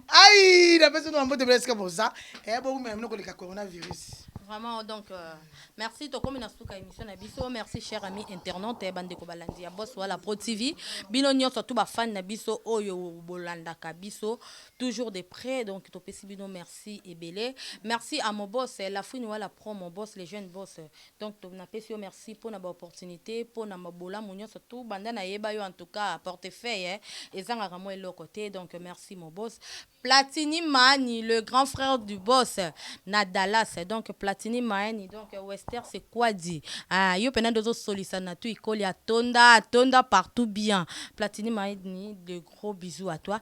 ai napesi no mambote bela esika boza eh bowumela mino koleka coronavirus Vraiment, donc, euh, merci. Tokomi na suka émission na biso. Merci, cher ami internaute, eh, bande ko balandi ya boss wala Pro TV. Bino nyonso tout ba fan na biso oyo bolandaka biso toujours de près. Donc, topesi bino merci ebele. Merci à mon boss, eh, la fouine wala Pro, mon boss, les jeunes boss. eh, Donc to na pesi yo merci pona ba opportunite pona ma bolamu nionso tout banda na yeba yo en tout cas porte feuille ezangaka mua eloko te donc merci mon boss platini maani le grand frère du boss na Dallas donc platini maani donc wester c'est quoi dit ah yo pena nde ozo solisa na tu ikoli atonda atonda partout bien platini maani le Gros bisous à toi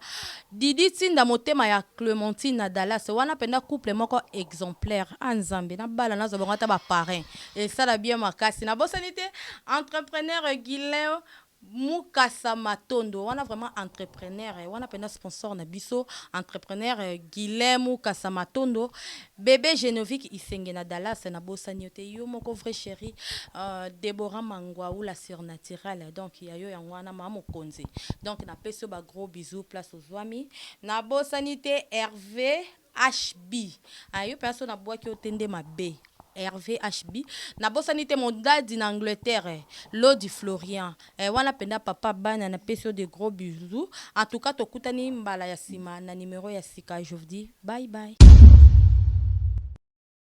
Didi tinda motema ya Clementine na Dallas wana penda couple moko exemplaire ah nzambe na bala nazwa bango ata ba parrain esala bien makasi na bosani te entrepreneur Guilain Mukasa Matondo wana vraiment entrepreneur wana penda sponsor na biso entrepreneur Guilain Mukasa Matondo Bebe genovic isenge na Dallas na bosani yo te yo moko vrai cheri ahh Deborah manguau la surnaturelle donc ya yo yango wana mama mokonzi donc na pesi yo ba gros bisous place ozuami na bosani te Herve HB ahh yo penza soki na buaki yo te nde mabe Herve HB na bosani te mon daddy na Angleterre Lodi Florian Eh wana penza papa bana na pesi yo de gros bisous en tout cas tokutani mbala ya sima na numero ya sika je vous dis bye bye.